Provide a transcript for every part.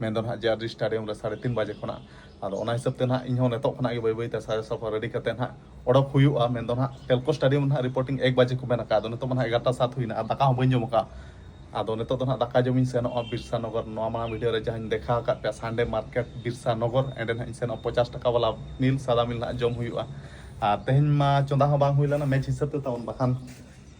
ᱢᱮᱱ ᱫᱚ ᱱᱟᱦᱟᱜ JRD stadium ᱨᱮ ᱥᱟᱲᱮ ᱛᱤᱱ ᱵᱟᱡᱮ ᱠᱷᱚᱱᱟᱜ ᱟᱫᱚ ᱚᱱᱟ ᱦᱤᱥᱟᱹᱵ ᱛᱮ ᱱᱟᱦᱟᱜ ᱤᱧ ᱦᱚᱸ ᱱᱤᱛᱚᱜ ᱠᱷᱚᱱᱟᱜ ᱜᱮ ᱵᱟᱹᱭ ᱵᱟᱹᱭ ᱛᱮ ᱥᱟᱡᱟᱣ ᱥᱟᱯᱷᱟ ᱨᱮᱰᱤ ᱠᱟᱛᱮ ᱱᱟᱦᱟᱜ ᱚᱰᱚᱠ ᱦᱩᱭᱩᱜᱼᱟ ᱢᱮᱱ ᱫᱚ ᱱᱟᱦᱟᱜ ᱴᱮᱞᱠᱚ ᱥᱴᱟᱰᱤᱭᱟᱢ ᱱᱟᱦᱟᱜ ᱨᱤᱯᱳᱨᱴᱤᱝ ᱮᱠ ᱵᱟᱡᱮ ᱠᱚ ᱢᱮᱱ ᱟᱠᱟᱫᱼᱟ ᱟᱫᱚ ᱱᱤᱛᱚᱜ ᱢᱟ ᱱᱟᱦᱟᱜ ᱮᱜᱟᱨᱚᱴᱟ ᱥᱟᱛ ᱦᱩᱭᱱᱟ ᱟᱨ ᱫᱟᱠᱟ ᱦᱚᱸ ᱵᱟᱹᱧ ᱡᱚᱢ ᱟᱠᱟᱫᱼᱟ ᱟᱫᱚ ᱱᱤᱛᱚᱜ ᱫᱚ ᱱᱟᱦᱟᱜ ᱫᱟᱠᱟ ᱡᱚᱢ ᱤᱧ ᱥᱮᱱᱚᱜᱼᱟ ᱵᱤᱨᱥᱟ ᱱᱚᱜᱚᱨ ᱱᱚᱣᱟ ᱢᱟᱲᱟᱝ ᱵᱷᱤᱰᱤᱭᱳ ᱨᱮ ᱡᱟᱦᱟᱸᱧ ᱫᱮᱠᱷᱟᱣ ᱟᱠᱟᱫ ᱯᱮᱭᱟ ᱥᱟᱱᱰᱮ ᱢᱟᱨᱠᱮᱴ ᱵᱤᱨᱥᱟ ᱱᱚᱜᱚᱨ ᱮᱸᱰᱮ ᱱᱟᱦᱟᱜ ᱤᱧ ᱥᱮᱱᱚᱜᱼᱟ ᱯᱚᱪᱟᱥ ᱴᱟᱠᱟ ᱵᱟᱞᱟ ᱢᱤᱞ ᱥᱟᱫᱟ ᱢᱤᱞ ᱱᱟᱦᱟᱜ ᱡᱚᱢ ᱦᱩᱭᱩᱜᱼᱟ ᱟᱨ ᱛᱮᱦᱮᱧ ᱢᱟ ᱪᱚᱸᱫᱟ ᱦᱚᱸ ᱵᱟᱝ ᱦᱩᱭ ᱞᱮᱱᱟ ᱢᱮᱪ ᱦᱤᱥᱟᱹᱵ ᱛᱮ ᱛᱟᱵᱚᱱ ᱵᱟᱠᱷᱟᱱ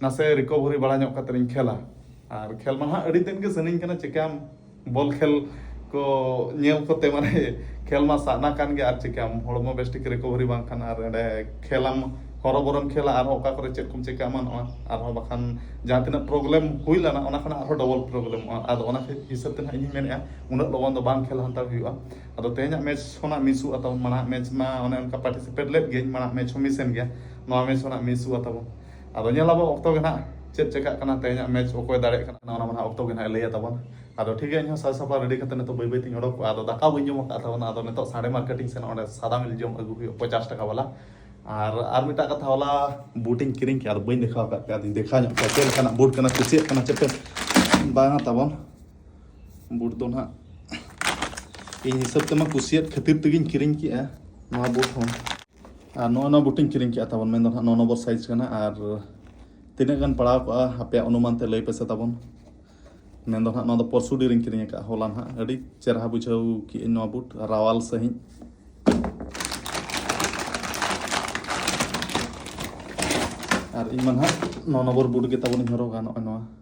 ᱱᱟᱥᱮ ᱨᱤᱠᱚᱵᱷᱚᱨᱤ ᱵᱟᱲᱟ ᱧᱚᱜ ᱠᱟᱛᱮ ᱤᱧ ᱠᱷᱮᱞᱟ ᱟᱨ ᱠᱷᱮᱞ ᱢᱟ ᱱᱟᱦᱟᱜ ᱟᱹᱰᱤ ᱫᱤᱱ ᱜᱮ ᱥᱟᱱᱟᱧ ᱠᱟᱱᱟ ᱪᱤᱠᱟᱹᱭᱟᱢ ᱵᱚᱞ ᱠᱷᱮᱞ ᱠᱚ ᱧᱮᱞ ᱠᱚᱛᱮ ᱢᱟᱱᱮ ᱠᱷᱮᱞ ᱢᱟ ᱥᱟᱱᱟ ᱠᱟᱱ ᱜᱮ ᱟᱨ ᱪᱤᱠᱟᱹᱭᱟᱢ ᱦᱚᱲᱢᱚ ᱵᱮᱥ ᱴᱷᱤᱠ ᱨᱤᱠᱚᱵᱷᱚᱨᱤ ᱵᱟᱝ ᱠᱷᱟᱱ ᱟᱨ ᱚᱸᱰᱮ ᱠᱷᱮᱞᱟᱢ ᱦᱚᱨᱚ ᱵᱚᱨᱚᱢ ᱠᱷᱮᱞᱟ ᱟᱨ ᱦᱚᱸ ᱚᱠᱟ ᱠᱚᱨᱮ ᱪᱮᱫ ᱠᱚᱢ ᱪᱤᱠᱟᱹ ᱮᱢᱟᱱᱚᱜᱼᱟ ᱟᱨ ᱦᱚᱸ ᱵᱟᱠᱷᱟᱱ ᱡᱟᱦᱟᱸ ᱛᱤᱱᱟᱹᱜ ᱯᱨᱚᱵᱞᱮᱢ ᱦᱩᱭ ᱞᱮᱱᱟ ᱚᱱᱟ ᱠᱷᱚᱱᱟᱜ ᱟᱨ ᱦᱚᱸ ᱰᱚᱵᱚᱞ ᱯᱨᱚᱵᱞᱮᱢᱚᱜᱼᱟ ᱟᱫᱚ ᱚᱱᱟ ᱠᱷᱟᱹᱛᱤᱨ ᱦᱤᱥᱟᱹᱵ ᱛᱮ ᱱᱟᱦᱟᱜ ᱤᱧ ᱢᱮᱱᱮᱜᱼᱟ ᱩᱱᱟᱹᱜ ᱞᱚᱜᱚᱱ ᱫᱚ ᱵᱟᱝ ᱠᱷᱮᱞ ᱦᱟᱛᱟᱲ ᱦᱩᱭᱩᱜᱼᱟ ᱟᱫᱚ ᱛᱮᱦᱮᱧᱟᱜ ᱢᱮᱪ ᱠᱷᱚᱱᱟᱜ ᱢᱤᱥᱚᱜᱼᱟ ᱛᱟᱵᱚᱱ ᱢᱟᱲᱟᱝ ᱢᱮᱪ ᱢᱟ ᱚᱱᱮ ᱚᱱᱠᱟ ᱯᱟᱨᱴᱤᱥᱤᱯᱮᱴ ᱞᱮᱫ ᱜᱤᱭᱟᱹᱧ ᱢᱟᱲᱟᱝ ᱢᱮᱪ ᱦᱚᱸ ᱢᱤᱥᱮᱱ ᱜᱮᱭᱟ ᱱᱚᱣᱟ ᱢᱮᱪ ᱦᱚᱸ ᱱᱟᱦᱟᱜ ᱢᱤᱥᱚᱜᱼᱟ ᱛᱟᱵᱚᱱ ᱟᱫᱚ ᱧᱮᱞ ᱟᱵᱚ ᱚᱠᱛᱚ ᱜᱮ ᱱᱟᱦᱟᱜ ᱪᱮᱫ ᱪᱮᱠᱟᱜ ᱠᱟᱱᱟ ᱛᱮᱦᱮᱧᱟᱜ ᱢᱮᱪ ᱚᱠᱚᱭ ᱫᱟᱲᱮᱭᱟᱜ ᱠᱟᱱᱟ ᱚᱱᱟ ᱢᱟ ᱱᱟᱦᱟᱜ ᱚᱠᱛᱚ ᱜᱮ ᱱᱟᱦᱟᱜ ᱞᱟᱹᱭᱟ ᱛᱟᱵᱚᱱ ᱟᱫᱚ ᱴᱷᱤᱠ ᱜᱮᱭᱟ ᱤᱧ ᱦᱚᱸ ᱥᱟᱡᱽ ᱥᱟᱯᱲᱟᱣ ᱨᱮᱰᱤ ᱠᱟᱛᱮ ᱱᱤᱛᱚᱜ ᱵᱟᱹᱭ ᱵᱟᱹᱭ ᱛᱤᱧ ᱚᱰᱚᱠᱚᱜᱼᱟ ᱟᱫᱚ ᱫᱟᱠᱟ ᱵᱟᱹᱧ ᱡᱚᱢ ᱟᱠᱟᱫ ᱛᱟᱵᱚᱱᱟ ᱟᱫᱚ ᱱᱤᱛᱚᱜ ᱥᱟᱰᱮ ᱢᱟᱨᱠᱮᱴ ᱤᱧ ᱥᱮᱱᱚᱜ ᱚᱸᱰᱮ ᱥᱟᱫᱟ ᱢᱤᱞ ᱡᱚᱢ ᱟᱹᱜᱩ ᱦᱩᱭᱩᱜᱼᱟ ᱯᱚᱪᱟᱥ ᱴᱟᱠᱟ ᱵᱟᱞᱟ ᱟᱨ ᱟᱨ ᱢᱤᱫᱴᱟᱜ ᱠᱟᱛᱷᱟ ᱦᱚᱞᱟ ᱵᱩᱴ ᱤᱧ ᱠᱤᱨᱤᱧ ᱠᱮᱫᱟ ᱟᱫᱚ ᱵᱟᱹᱧ ᱫᱮᱠᱷᱟᱣ ᱟᱠᱟᱫ ᱯᱮᱭᱟ ᱟᱫᱚᱧ ᱫᱮᱠᱷᱟᱣ ᱧᱚᱜ ᱯᱮᱭᱟ ᱪᱮᱫ ᱞᱮᱠᱟᱱᱟᱜ ᱵᱩᱴ ᱠᱟᱱᱟ ᱠᱩᱥᱤᱭᱟᱜ ᱠᱟᱱᱟ ᱪᱮᱫ ᱯᱮ ᱵᱟᱝᱟ ᱛᱟᱵᱚᱱ ᱵᱩᱴ ᱫᱚ ᱱᱟᱦᱟᱜ ᱤᱧ ᱦᱤᱥᱟᱹᱵ ᱛᱮᱢᱟ ᱠᱩᱥᱤᱭᱟᱫ ᱠᱷᱟᱹᱛᱤᱨ ᱛᱮᱜᱮᱧ ᱠᱤᱨᱤᱧ ᱠᱮᱫᱼᱟ ᱱᱚᱣᱟ ᱵᱩᱴ ᱦᱚᱸ ᱟᱨ ᱱᱚᱜᱼᱚᱭ ᱱᱚᱣᱟ ᱵᱩᱴᱤᱧ ᱠᱤᱨᱤᱧ ᱠᱮᱜᱼᱟ ᱛᱟᱵᱚᱱ ᱢᱮᱱᱫᱚ ᱱᱟᱦᱟᱜ ᱱᱚ ᱱᱚᱢᱵᱚᱨ ᱥᱟᱭᱤᱡᱽ ᱠᱟᱱᱟ ᱟᱨ ᱛᱤᱱᱟᱹᱜ ᱜᱟᱱ ᱯᱟᱲᱟᱣ ᱠᱚᱜᱼᱟ ᱟᱯᱮᱭᱟᱜ ᱚᱱᱩᱢᱟᱱ ᱛᱮ ᱞᱟᱹᱭ ᱯᱮᱥᱮ ᱛᱟᱵᱚᱱ ᱢᱮᱱᱫᱚ ᱱᱟᱦᱟᱜ ᱱᱚᱣᱟ ᱫᱚ ᱯᱚᱨᱥᱩᱰᱤ ᱨᱤᱧ ᱠᱤᱨᱤᱧ ᱟᱠᱟᱫᱼᱟ ᱦᱚᱞᱟ ᱱᱟᱦᱟᱜ ᱟᱹᱰᱤ ᱪᱮᱨᱦᱟ ᱵᱩᱡᱷᱟᱹᱣ ᱠᱮᱜᱼᱟᱹᱧ ᱱᱚᱣᱟ ᱵᱩᱴ ᱨᱟᱣᱟᱞ ᱥᱟᱺᱦᱤᱡ ᱟᱨ ᱤᱧ ᱢᱟ ᱱᱟᱦᱟᱜ ᱱᱚ ᱱᱚᱢᱵᱚᱨ ᱵᱩᱴ ᱜᱮ ᱛᱟᱵᱚᱱᱤᱧ ᱦᱚᱨᱚᱜᱟ ᱱᱚᱜᱼᱚᱭ ᱱᱚᱣᱟ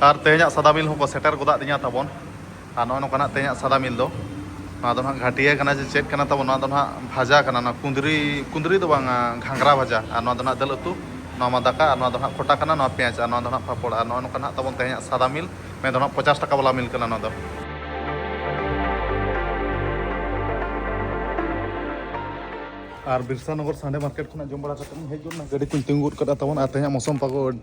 ᱟᱨ ᱛᱮᱦᱮᱧᱟᱜ ᱥᱟᱫᱟ ᱢᱤᱞ ᱦᱚᱸᱠᱚ ᱥᱮᱴᱮᱨ ᱜᱚᱫᱟᱜ ᱫᱤᱧᱟ ᱛᱟᱵᱚᱱ ᱟᱨ ᱱᱚᱜᱼᱚᱭ ᱱᱚᱝᱠᱟᱱᱟᱜ ᱛᱮᱦᱮᱧᱟᱜ ᱥᱟᱫᱟ ᱢᱤᱞ ᱫᱚ ᱱᱚᱣᱟ ᱫᱚ ᱱᱟᱦᱟᱜ ᱜᱷᱟᱴᱤᱭᱟᱹ ᱠᱟᱱᱟ ᱡᱮ ᱪᱮᱫ ᱠᱟᱱᱟ ᱛᱟᱵᱚᱱ ᱱᱚᱣᱟ ᱫᱚ ᱱᱟᱦᱟᱜ ᱵᱷᱟᱡᱟ ᱠᱟᱱᱟ ᱱᱚᱣᱟ ᱠᱩᱸᱫᱽᱨᱤ ᱠᱩᱸᱫᱽᱨᱤ ᱫᱚ ᱵᱟᱝᱟ ᱜᱷᱟᱸᱜᱽᱨᱟ ᱵᱷᱟᱡᱟ ᱟᱨ ᱱᱚᱣᱟ ᱫᱚ ᱱᱟᱦᱟᱜ ᱫᱟᱹᱞ ᱩᱛᱩ ᱱᱚᱣᱟ ᱢᱟ ᱫᱟᱠᱟ ᱟᱨ ᱱᱚᱣᱟ ᱫᱚ ᱱᱟᱦᱟᱜ ᱠᱷᱚᱴᱟ ᱠᱟᱱᱟ ᱱᱚᱣᱟ ᱯᱮᱸᱭᱟᱡᱽ ᱟᱨ ᱱᱚᱣᱟ ᱫᱚ ᱱᱟᱦᱟᱜ ᱯᱟᱯᱚᱲ ᱟᱨ ᱱᱚᱜᱼᱚᱭ ᱱᱚᱝᱠᱟ ᱱᱟᱦᱟᱜ ᱛᱟᱵᱚᱱ ᱛᱮᱦᱮᱧᱟᱜ ᱥᱟᱫᱟ ᱢᱤᱞ ᱢᱮᱱ ᱫᱚ ᱱᱟᱦᱟᱜ ᱯᱚᱪᱟᱥ ᱴᱟᱠᱟ ᱵᱟᱞᱟ ᱢᱤᱞ ᱠᱟᱱᱟ ᱱᱚᱣᱟ ᱫᱚ ᱟᱨ ᱵᱤᱨᱥᱟᱱᱚᱜᱚᱨ ᱥᱟᱸᱰᱮ ᱢᱟᱨᱠᱮᱴ ᱠᱷᱚᱱᱟᱜ ᱡᱚᱢ ᱵᱟᱲᱟ ᱠᱟᱛᱮᱫ ᱤᱧ ᱦᱮᱡ ᱜᱚᱫ ᱮᱱᱟ ᱜᱟᱹᱰᱤ ᱠᱚᱧ ᱛᱤᱸᱜᱩ ᱜᱚᱫ ᱠᱟᱫᱟ ᱛᱟᱵᱚᱱ ᱟᱨ ᱛᱮᱦᱮᱧᱟᱜ ᱢᱳᱥᱚᱢ ᱯᱟᱜᱚ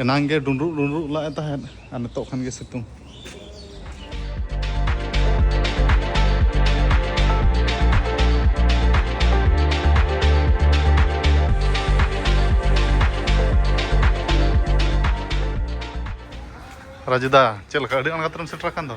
ᱮᱱᱟᱝ ᱜᱮ ᱰᱩᱸᱰᱨᱩᱜ ᱰᱩᱸᱰᱨᱩᱜ ᱞᱟᱜ ᱮ ᱛᱟᱦᱮᱸᱫ ᱟᱨ ᱱᱤᱛᱚᱜ ᱠᱷᱟᱱ ᱜᱮ ᱥᱤᱛᱩᱝ ᱨᱟᱡᱩᱫᱟ ᱪᱮᱫ ᱞᱮᱠᱟ ᱟᱹᱰᱤ ᱟᱬᱜᱟᱛ ᱨᱮᱢ ᱥᱮᱴᱮᱨ ᱟᱠᱟᱱ ᱫᱚ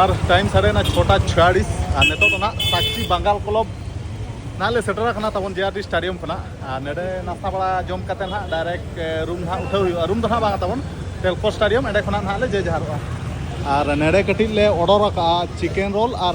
ᱟᱨ ᱴᱟᱭᱤᱢ ᱥᱟᱲᱮ ᱱᱟ ᱪᱷᱚᱴᱟ ᱪᱷᱤᱭᱟᱲᱤᱥ ᱟᱨ ᱱᱤᱛᱚᱜ ᱫᱚ ᱱᱟᱜ ᱥᱟᱠᱪᱤ ᱵᱟᱝᱜᱟᱞ ᱠᱞᱚᱵ ᱱᱟᱜ ᱞᱮ ᱥᱮᱴᱮᱨ ᱟᱠᱟᱱᱟ ᱛᱟᱵᱚᱱ ᱡᱮ ᱟᱨ ᱰᱤ ᱥᱴᱟᱰᱤᱭᱟᱢ ᱠᱷᱚᱱᱟᱜ ᱟᱨ ᱱᱚᱰᱮ ᱱᱟᱥᱛᱟ ᱵᱟᱲᱟ ᱡᱚᱢ ᱠᱟᱛᱮ ᱱᱟᱜ ᱰᱟᱭᱨᱮᱠᱴ ᱨᱩᱢ ᱱᱟᱜ ᱩᱴᱷᱟᱹᱣ ᱦᱩᱭᱩᱜᱼᱟ ᱨᱩᱢ ᱫᱚ ᱱᱟᱜ ᱵᱟᱝ ᱛᱟᱵᱚᱱ ᱴᱮᱞᱠᱚ ᱥᱴᱟᱰᱤᱭᱟᱢ ᱚᱸᱰᱮ ᱠᱷᱚᱱᱟᱜ ᱱᱟᱜ ᱞᱮ ᱡᱮ ᱡᱟᱦᱟᱨᱚᱜᱼᱟ ᱟᱨ ᱱᱚᱰᱮ ᱠᱟᱹᱴᱤᱡ ᱞᱮ ᱚᱰᱟᱨ ᱟᱠᱟᱫᱼᱟ ᱪᱤᱠᱮᱱ ᱨᱳᱞ ᱟᱨ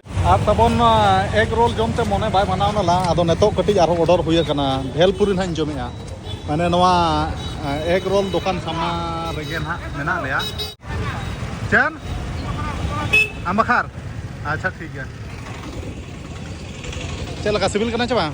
ᱟᱨ ᱛᱟᱵᱚᱱ ᱮᱜᱽ ᱨᱳᱞ ᱡᱚᱢ ᱛᱮ ᱢᱚᱱᱮ ᱵᱟᱭ ᱢᱟᱱᱟᱣ ᱱᱟᱞᱟ ᱟᱫᱚ ᱱᱤᱛᱚᱜ ᱠᱟᱹᱴᱤᱡ ᱟᱨᱦᱚᱸ ᱚᱰᱚᱨ ᱦᱩᱭ ᱟᱠᱟᱱᱟ ᱵᱷᱮᱞᱯᱩᱨᱤ ᱱᱟᱦᱟᱜ ᱤᱧ ᱡᱚᱢᱮᱜᱼᱟ ᱢᱟᱱᱮ ᱱᱚᱣᱟ ᱮᱜᱽ ᱨᱳᱞ ᱫᱚᱠᱟᱱ ᱥᱟᱢᱱᱟ ᱨᱮᱜᱮ ᱱᱟᱦᱟᱜ ᱢᱮᱱᱟᱜ ᱞᱮᱭᱟ ᱪᱮᱫ ᱟᱢᱵᱟᱠᱷᱟᱨ ᱟᱪᱪᱷᱟ ᱴᱷᱤᱠ ᱜᱮᱭᱟ ᱪᱮᱫ ᱞᱮᱠᱟ ᱥᱤᱵᱤᱞ ᱠᱟᱱᱟ ᱪᱮ ᱵᱟᱝ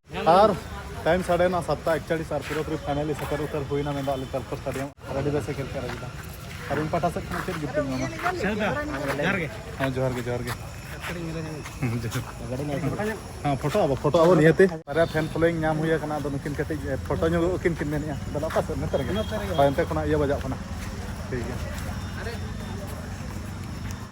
ᱟᱨ ᱴᱟᱭᱤᱢ ᱥᱟᱰᱮᱱᱟ ᱥᱟᱛᱴᱟ ᱮᱠᱪᱟᱲᱤᱥ ᱟᱨ ᱯᱩᱨᱟᱹᱯᱩᱨᱤ ᱯᱷᱟᱭᱱᱟᱞᱤ ᱥᱮᱴᱮᱨ ᱩᱛᱟᱹᱨ ᱦᱩᱭᱱᱟ ᱢᱮᱱᱫᱚ ᱟᱞᱮ ᱛᱟᱨᱯᱚᱨ ᱥᱴᱟᱰᱤᱭᱟᱢ ᱟᱨ ᱟᱹᱰᱤ ᱵᱮᱥᱮ ᱠᱷᱮᱞ ᱠᱮᱫ ᱨᱟᱡᱤᱫᱟ ᱟᱨ ᱤᱧ ᱯᱟᱦᱴᱟ ᱥᱮᱫ ᱠᱷᱚᱱ ᱪᱮᱫ ᱜᱤᱯᱷᱴ ᱤᱧ ᱮᱢᱟᱢᱟ ᱡᱚᱦᱟᱨ ᱜᱮ ᱦᱮᱸ ᱡᱚᱦᱟᱨ ᱜᱮ ᱡᱚᱦᱟᱨ ᱜᱮ ᱦᱮᱸ ᱯᱷᱳᱴᱳ ᱟᱵᱚ ᱯᱷᱳᱴᱳ ᱟᱵᱚ ᱱᱤᱭᱟᱹᱛᱮ ᱵᱟᱨᱭᱟ ᱯᱷᱮᱱ ᱯᱷᱚᱞᱳᱭᱤᱝ ᱧᱟᱢ ᱦᱩᱭ ᱟᱠᱟᱱᱟ ᱟᱫᱚ ᱱᱩᱠᱤᱱ ᱠᱟᱹᱴᱤᱡ ᱯᱷᱳᱴᱳ ᱧᱚᱜ ᱩᱠᱤᱱ ᱠᱤᱱ ᱢᱮᱱᱮᱜᱼᱟ ᱟᱫᱚ ᱚᱠᱟ ᱥᱮᱫ ᱱᱚᱛᱮ ᱨᱮᱜᱮ ᱦᱳᱭ ᱚᱱᱛᱮ ᱠᱷᱚᱱᱟᱜ ᱤᱭᱟᱹ ᱵᱟᱡᱟᱜ ᱠᱟᱱᱟ ᱴᱷᱤᱠ ᱜᱮᱭᱟ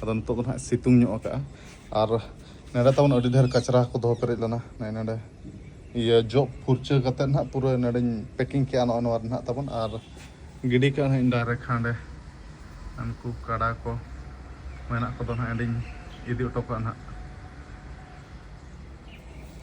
ᱟᱫᱚ ᱱᱤᱛᱚᱜ ᱫᱚ ᱱᱟᱦᱟᱜ ᱥᱤᱛᱩᱝ ᱧᱚᱜ ᱟᱠᱟᱜᱼᱟ ᱟᱨ ᱱᱚᱰᱮ ᱛᱟᱵᱚᱱ ᱟᱹᱰᱤ ᱰᱷᱮᱨ ᱠᱟᱪᱨᱟ ᱠᱚ ᱫᱚᱦᱚ ᱯᱮᱨᱮᱡ ᱞᱮᱱᱟ ᱱᱚᱜᱼᱚᱭ ᱱᱚᱰᱮ ᱤᱭᱟᱹ ᱡᱚᱜ ᱯᱷᱩᱨᱪᱟᱹ ᱠᱟᱛᱮᱫ ᱱᱟᱦᱟᱜ ᱯᱩᱨᱟᱹ ᱱᱚᱰᱮᱧ ᱯᱮᱠᱤᱝ ᱠᱮᱜᱼᱟ ᱱᱚᱜᱼᱚ ᱱᱚᱣᱟ ᱨᱮ ᱱᱟᱦᱟᱜ ᱛᱟᱵᱚᱱ ᱟᱨ ᱜᱤᱰᱤ ᱠᱟᱜᱼᱟ ᱱᱟᱦᱟᱜ ᱰᱟᱭᱨᱮᱠᱴ ᱦᱟᱸᱰᱮ ᱩᱱᱠᱩ ᱠᱟᱰᱟ ᱠᱚ ᱢᱮᱱᱟᱜ ᱠᱚᱫᱚ ᱱᱟᱦᱟᱜ ᱚᱸᱰᱮᱧ ᱤᱫᱤ ᱦᱚᱴᱚ ᱠᱟᱜᱼᱟ ᱱᱟᱦᱟᱜ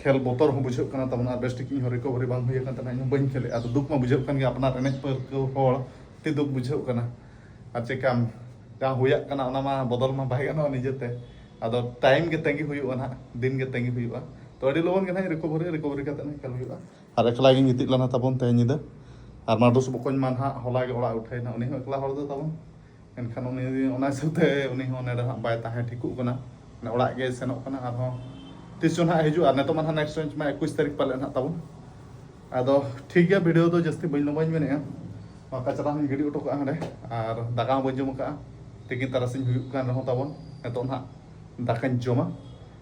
ᱠᱷᱮᱞ ᱵᱚᱛᱚᱨ ᱦᱚᱸ ᱵᱩᱡᱷᱟᱹᱜ ᱠᱟᱱᱟ ᱛᱟᱵᱚᱱ ᱟᱨ ᱵᱮᱥ ᱴᱷᱤᱠ ᱤᱧ ᱦᱚᱸ ᱨᱤᱠᱚᱵᱷᱟᱨᱤ ᱵᱟᱝ ᱦᱩᱭ ᱟᱠᱟᱱ ᱛᱟᱦᱮᱱᱟ ᱤᱧ ᱦᱚᱸ ᱵᱟᱹᱧ ᱠᱷᱮᱞᱮᱜᱼᱟ ᱟᱫᱚ ᱫᱩᱠ ᱢᱟ ᱵᱩᱡᱷᱟᱹᱜ ᱠᱟᱱ ᱜᱮᱭᱟ ᱟᱯᱱᱟᱨ ᱮᱱᱮᱡ ᱯᱟᱹᱨᱠᱟᱹᱣ ᱦᱚᱲ ᱛᱮ ᱫᱩᱠ ᱵᱩᱡᱷᱟᱹᱜ ᱠᱟᱱᱟ ᱟᱨ ᱪᱮᱠᱟᱢ ᱡᱟᱦᱟᱸ ᱦᱩᱭᱟᱜ ᱠᱟᱱᱟ ᱚᱱᱟ ᱢᱟ ᱵᱚᱫᱚᱞ ᱢᱟ ᱵᱟᱭ ᱜᱟᱱᱚᱜᱼᱟ ᱱᱤᱡᱮᱛᱮ ᱟᱫᱚ ᱴᱟᱭᱤᱢ ᱜᱮ ᱛᱟᱺᱜᱤ ᱦᱩᱭᱩᱜᱼᱟ ᱱᱟᱦᱟᱜ ᱫᱤᱱ ᱜᱮ ᱛᱟᱺᱜᱤ ᱦᱩᱭᱩᱜᱼᱟ ᱛᱚ ᱟᱹᱰᱤ ᱞᱚᱜᱚᱱ ᱜᱮ ᱱᱟᱦᱟᱜ ᱨᱤᱠᱚᱵᱷᱟᱨᱤ ᱨᱤᱠᱚᱵᱷᱟᱨᱤ ᱠᱟᱛᱮ ᱱᱟᱦᱟᱜ ᱠᱷᱮᱞ ᱦᱩᱭᱩᱜᱼᱟ ᱟᱨ ᱮᱠᱞᱟ ᱜᱤᱧ ᱜᱤᱛᱤᱡ ᱞᱮᱱᱟ ᱛᱟᱵᱚᱱ ᱛᱮᱦᱮᱧ ᱧᱤᱫᱟᱹ ᱟᱨ ᱢᱟᱰᱩᱥ ᱵᱚᱠᱚᱧ ᱢᱟ ᱱᱟᱦᱟᱜ ᱦᱚᱞᱟ ᱜᱮ ᱚᱲᱟᱜ ᱩᱴᱷᱟᱹᱭᱮᱱᱟ ᱩᱱᱤ ᱦᱚᱸ ᱮᱠᱞᱟ ᱦᱚᱲ ᱫᱚ ᱛᱟᱵᱚᱱ ᱮᱱᱠᱷᱟᱱ ᱩᱱᱤ ᱚᱱᱟ ᱦᱤᱥᱟᱹᱵ ᱛᱮ ᱩᱱᱤ ᱦᱚᱸ ᱱᱚᱰᱮ ᱦᱟᱸᱜ ᱵᱟᱭ ᱛᱟᱦᱮᱸ ᱴᱷᱤᱠᱚᱜ ᱠᱟᱱᱟ ᱚᱲᱟᱜ ᱜᱮ ᱥᱮᱱᱚᱜ ᱠᱟᱱᱟ ᱟᱨᱦᱚᱸ ᱛᱤᱥ ᱪᱚ ᱦᱟᱸᱜ ᱦᱤᱡᱩᱜᱼᱟ ᱱᱤᱛᱚᱜ ᱢᱟ ᱦᱟᱸᱜ ᱱᱮᱠᱥᱴ ᱵᱮᱧᱪ ᱢᱟ ᱮᱠᱩᱥ ᱛᱟᱹᱨᱤᱠᱷ ᱯᱟᱞᱮ ᱦᱟᱸᱜ ᱛᱟᱵᱚᱱ ᱟᱫᱚ ᱴᱷᱤᱠ ᱜᱮᱭᱟ ᱵᱷᱤᱰᱤᱭᱳ ᱫᱚ ᱡᱟᱹᱥᱛᱤ ᱵᱟᱹᱧ ᱞᱚᱢᱵᱟᱧ ᱢᱮᱱᱮᱜᱼᱟ ᱱᱚᱣᱟ ᱠᱟᱪᱨᱟ ᱦᱚᱸᱧ ᱜᱤᱰᱤ ᱦᱚᱴᱚ ᱠᱟᱜᱼᱟ ᱦᱟᱸᱰᱮ ᱟᱨ ᱫᱟᱠᱟ ᱦᱚᱸ ᱵᱟᱹᱧ ᱡᱚᱢ ᱠᱟᱜᱼᱟ ᱛᱤᱠᱤᱱ ᱛᱟᱨᱟᱥᱤᱧ ᱦᱩᱭᱩᱜ ᱠᱟᱱ ᱨᱮᱦᱚᱸ ᱛᱟᱵᱚᱱ ᱱᱤᱛᱚᱜ ᱦᱟᱸᱜ ᱫᱟᱠᱟᱧ ᱡᱚᱢᱟ